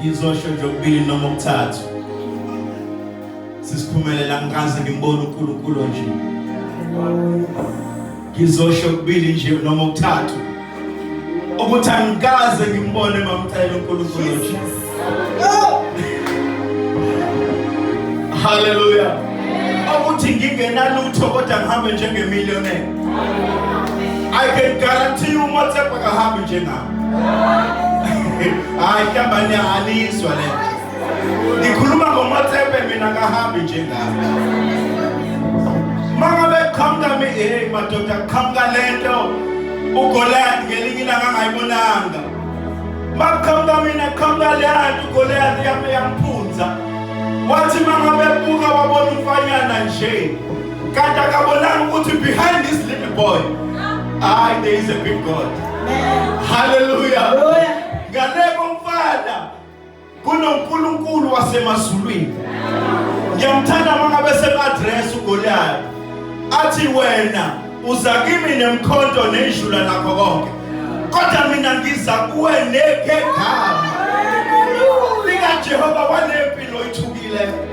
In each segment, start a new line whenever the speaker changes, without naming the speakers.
ngizosho nje okubili noma okuthathu sisiphumelela ngikaze ngimbone uNkulunkulu nje ngizosho okubili nje noma okuthathu ukuthi angikaze ngimbone mamcela uNkulunkulu nje haleluya ukuthi ngingenalutho kodwa ngihambe njengemillionaire i can guarantee you whatsapp akahambi njengayo hayi kabani alizwa le ngikhuluma ngomotsepe mina kahambi njengami mangabe qhamuka mi hey madoda qhamuka lento ugoliath ngelinye ilanga angayibonanga makuqhamuka mina qhamuka leyanto ugoliath yami yamphunza wathi mangabe buka wabona umfanyana nje Kanti akabonanga ukuthi behind this little boy I there is a big God. Hallelujah. Ngaleko mfana kunoNkulunkulu wasemazulwini. Ngiyamthanda mangabe semaddress uGoliath. Athi wena uza kimi nemkhonto nejula lakho konke. Kodwa mina ngiza kuwe nekhegama. Lika Jehova wanempilo ithukile.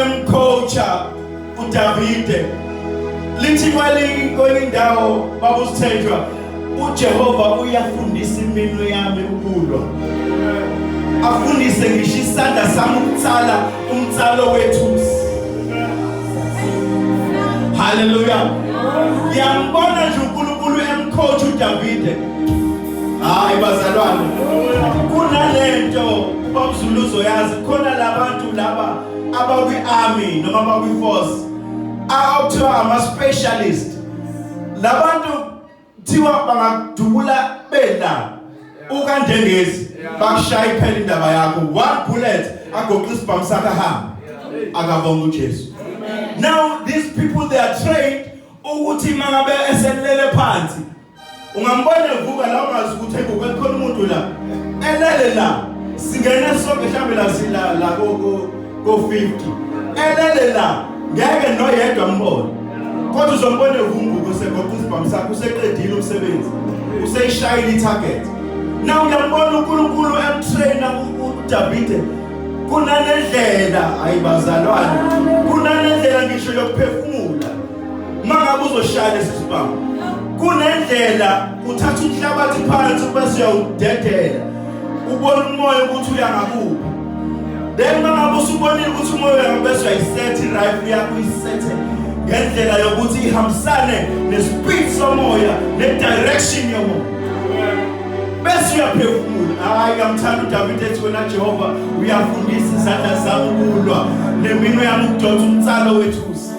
emcoacha uDavide lithi kwelinye indawo babusithenjwa uJehova uyafundisa iminwe yami ukulwa afundise ngisho isandla sami ukutsala umtsalo wethusi haleluya yambona nje uNkulunkulu emkhothi uDavide hayi bazalwane kunalento babuzuluzo yazi khona labantu laba abakwi-army noma abakwi-force akuthiwa ama-specialist labantu kuthiwa bangakudubula bela ukandengezi bakushaya iphela indaba yakho one bullet agoqa isibhamu sakhe ahambe akabonga ujesu now these people they are trained ukuthi mangabe eselele phansi ungambona evuka la ungazi ukuthi ebuka khona umuntu la elele la singena sonke mhlambe la sila la ko ko 50 elele la ngeke noyedwa mbone kodwa uzombona evumbuka usegoqa isibhamu sakhe useqedile umsebenzi useyishayile i-target na uyambona unkulunkulu emtraina udavide kunanendlela ayibazalwane kunanendlela ngisho yokuphefumula mangabe uzoshaya lesi sibhamu kunendlela uthatha umhlabathi phansi bese uyawudedela ubona umoya ukuthi uya ngakuphi then mangabe usubonile ukuthi umoya uya ngabese uyayisetha i-rife yakho uyisethe ngendlela yokuthi ihambisane nespeed somoya ne-direction yomoya bese uyaphefumula hayi ngamthanda udavide ethi wena jehova uyafundisa izandla zami ukulwa neminwe yami ukudonsa umtsalo wethusi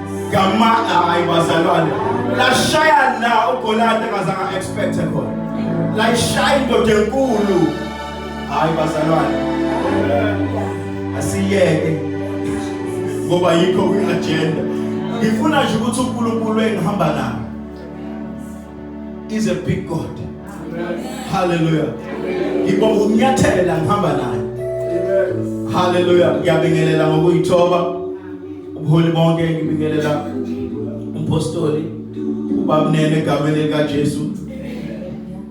Gamana hayi bazalwane. Lashaya la uGoliyati engazange expect khona. Layishaya indoda enkulu. Hayi bazalwane. Asiyeke. Ngoba yikho kwi-agenda. Ngifuna nje ukuthi uNkulunkulu engihamba naye is a big God. Hallelujah. Ngibonga ukunyathela ngihamba naye. Hallelujah. Ngiyabingelela ngokuyithoba. ubuholi bonke ngibingelela umpostoli ubabnene egameni likaJesu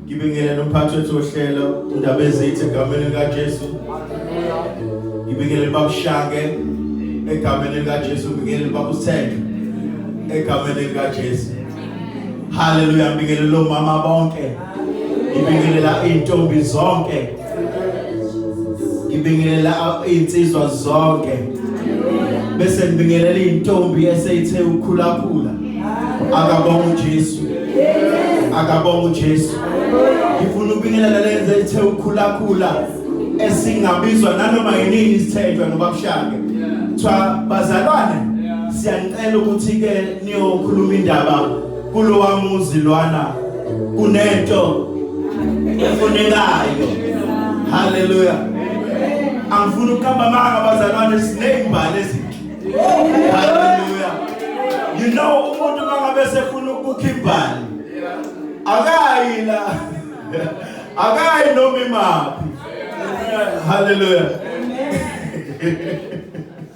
ngibingelela umphathi wethu ohlelo undaba ezithi egameni likaJesu ngibingelela babushange egameni likaJesu ngibingelela babusenge egameni likaJesu haleluya ngibingelela omama bonke ngibingelela intombi zonke ngibingelela insizwa zonke bese ngibingelela intombi eseyithe ukhulakhula akabonga uJesu akabonga uJesu ngifuna ubingelela lenze ithe ukhulakhula esingabizwa nanoma yini isithetshwe ngoba kushake kuthiwa bazalwane siyanicela ukuthi ke niyokhuluma indaba kulowa muzi lwana kunento efunekayo haleluya angifuni ukuhamba manga bazalwane sinezimbali ezinhle haleluya you know umuntu mangabe sefuna ukukha imbali akayi la akayi noma imaphi haleluya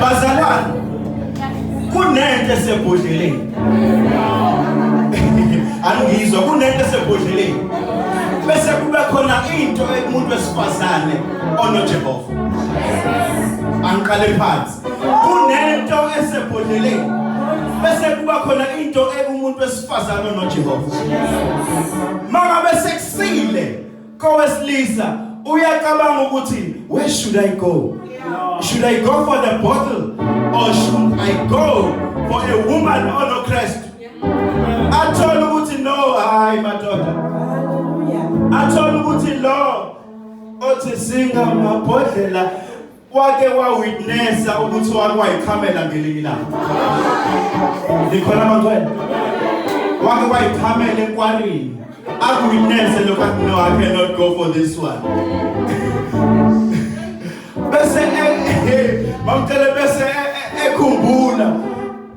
Bazalwane kunento esebhodleleni. Angizwa kunento esebhodleleni. Bese kube khona into umuntu wesifazane onoJehova. Angiqale phansi. Kunento esebhodleleni. Bese kuba khona into ekumuntu wesifazane onoJehova. Maka bese kusile kowesilisa uyacabanga ukuthi where should i go should i go for the bottle or should i go for a woman or no christ athole ukuthi no hayi madoda athole ukuthi lo othi singamabhodlela wake wawitnessa ukuthi wake wayichamela ngelinye ilanga likhona amangcwele wake wayichamela enkwarini akuwitnesse lokho athi no i cannot go for this one bese eh, eh, bamtshele bese eh, ekhumbula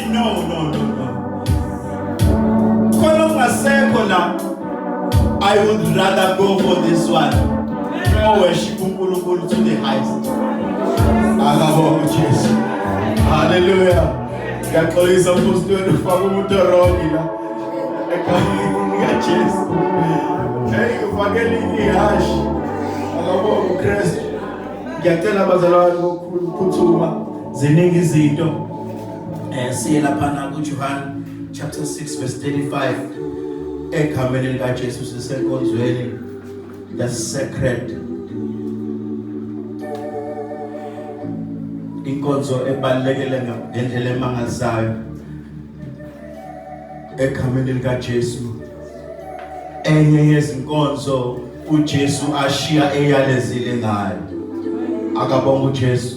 no no no no khona ungasekho la i would rather go for this one no worship uNkulunkulu to the highest akabonga uJesu haleluya ngiyaxolisa umbusi wenu ufaka umuntu wrong la ekhaya kaJesu hey ufake linye hashi akabonga uKristu ngiyacela abazalwane bokukhulu ukuphuthuma ziningi izinto Eh siye lapha na kuJohane chapter 6 verse 35 egameni lika Jesu sisenkonzweni the sacred inkonzo ebalekele ngendlela emangazayo egameni lika Jesu enye yezinkonzo uJesu ashiya eyalezile ngayo akabonga uJesu